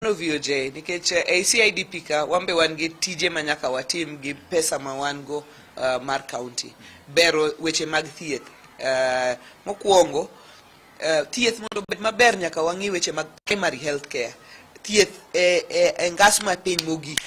mano VOJ nikech eh, ei CIDP ka wan be wan gi tije ma nyaka watim gi pesa ma wan go eh, mar county bero weche mag thieth Eh, mokwongo eh, thieth mondo obed maber nyaka wang'i weche mag primary health care thieth e e- e ngas ma piny mogik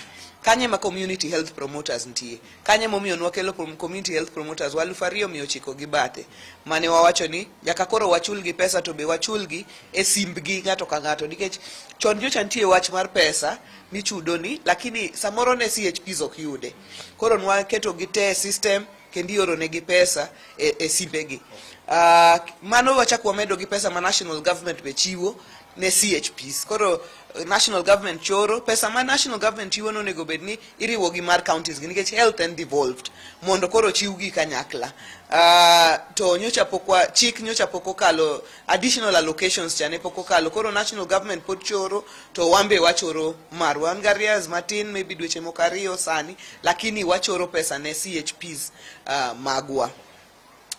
kanye ma community health promoters nitie Kanyo emomiyo nwakelo prom- community health promoters wa aluf ariyo mia ochiko gi bathe mane wawacho ni nyaka koro wachulgi pesa to be wachulgi e simbgi ng'ato ka ng'ato nikech chon nyocha nitie wach mar pesa michudoni lakini samoro ne chps ok yude koro nwaketogi te e system kendo ioronegi pesa e, e simbegi uh, mano wachak wamedo gi pesa ma national government be chiwo ne CHPs. Koro eh, national government choro pesa ma national government chiwo no onego bed ni iriwo gi mar counties gi nikech health and devolved mondo koro chiw gi kanyakla. Uh, to nyocha pok wa chik nyocha pok okalo additional allocations cha ne pok okalo koro national government pod choro to wambe wachoro mar wan gi arrears matin maybe dweche moko ariyo sani lakini wachoro pesa ne CHPs uh, magwa.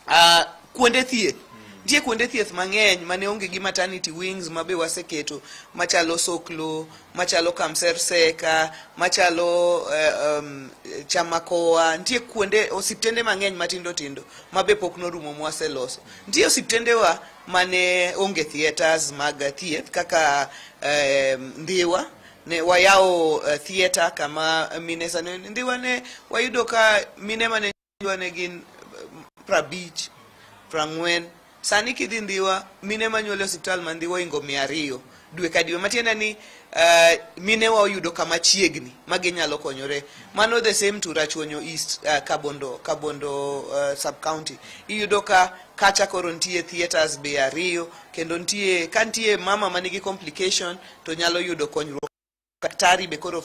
uh, kuonde thieth nitie kuonde thieth mang'eny mane onge gi maternity wings ma be waseketo machalo soklo machalo kamserseka machalo uh, um, chamakoa nitie kuonde osiptende mang'eny matindo tindo ma be pok norumo mwaseloso nitie osiptendewa mane onge theatres mag thieth kaka uh, ndhiwa ne wayawo uh, theatre kama mine sani ndhiwa ne wayudo ka mine mane jwa ne gin eh, prabich prang'wen sani kidhi ndiwa mine manyuole osiptal ma ndiwa ingo mia ariyo dwe ka dwe matiende ni uh, minewa oyudo kama chiegni ma ginyalo konyore mano the same to rachuonyo east uh, kabondo kabondo uh, sub county iyudo ka kacha koro nitie theaters be ariyo kendo nitie ka nitie mama manigi complication to nyalo yudo konyruok daktari be koro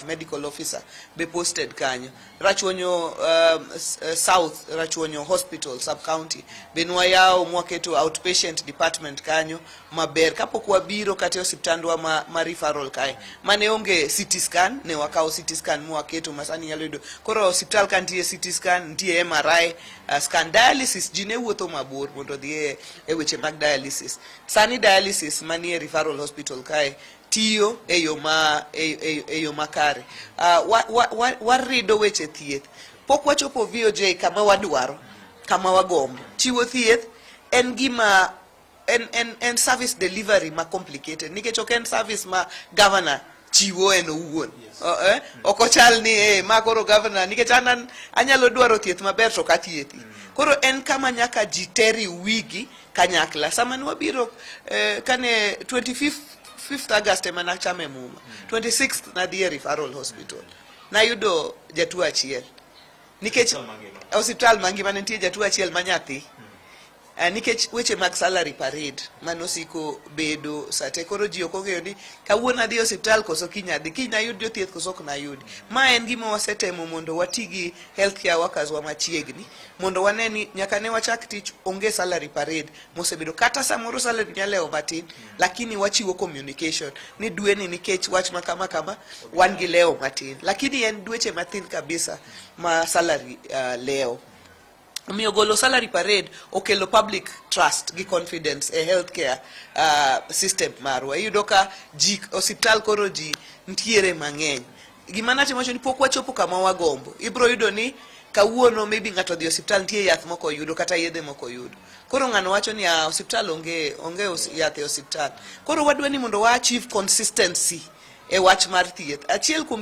medical officer be posted kanyo rachuonyo uh, uh, south rachuonyo hospital sub county be nwayawo mwaketo outpatient department kanyo maber kapok wabiro kata e osiptandwa ma, ma referral kae mane onge city scan ne wakawo city scan mwaketo masani nyalo yudo koro osiptal ka nitie city scan nitie mri uh, scan dialysis ji ne wuotho mabor mondo odhi e, e weche mag dialysis sani dialysis manie referral hospital kae tiyo e yo ma e, e, e yo makare uh, wa, wa, wa, warido weche thieth pok wachopo VOJ kama wadwaro kama wagombo chiwo thieth en gima en, en, en service delivery ma complicated nikech ok en service ma governor chiwo en owuon yes. uh, eh? ok ochal ni eh, ma koro governor nikech an anyalo dwaro thieth maber to kathieth mm. koro en kama nyaka ji teri wigi kanyakla sama ne wabiro eh, kane 25th 5th August ema nachamo e muma 26th nadhi e referral hospital nayudo jatuo achiel nikech Hospital mangima. hospital mangima ne nitie jatuo achiel ma nyathi Eh, nikech weche mag salary parade mane osiko bedo sate koro ji ok ong'eyo ni kawuono adhi e osiptal koso kiny adhi kiny nayud jothieth koso ok nayudi ma en gima wasetemo mondo wati gi health care workers wa machiegni mondo wane ni nyaka ne wachak tich onge salary parade mosebedo kata samoro salary nyalewo matin lakini wachiwo communication ni dweni nikech wach ma kama kama wan gi lewo matin lakini en dweche mathin kabisa ma salary uh, lewo omiyo golo salary parade okelo public trust gi confidence e healthcare uh, system marwa iyudo ka ji osiptal koro ji ntiere mang'eny gima natimo wacho ni pok wachopo kama wagombo ibiro yudo ni kawuono maybe ng'ato odhi e osiptal nitie yath moko oyudo kata yedhe moko oyudo koro ng'ano wacho ni ah, osiptal onge onge yath e osiptal koro wadwa ni mondo wa achieve consistency e wach mar thieth achiel kuom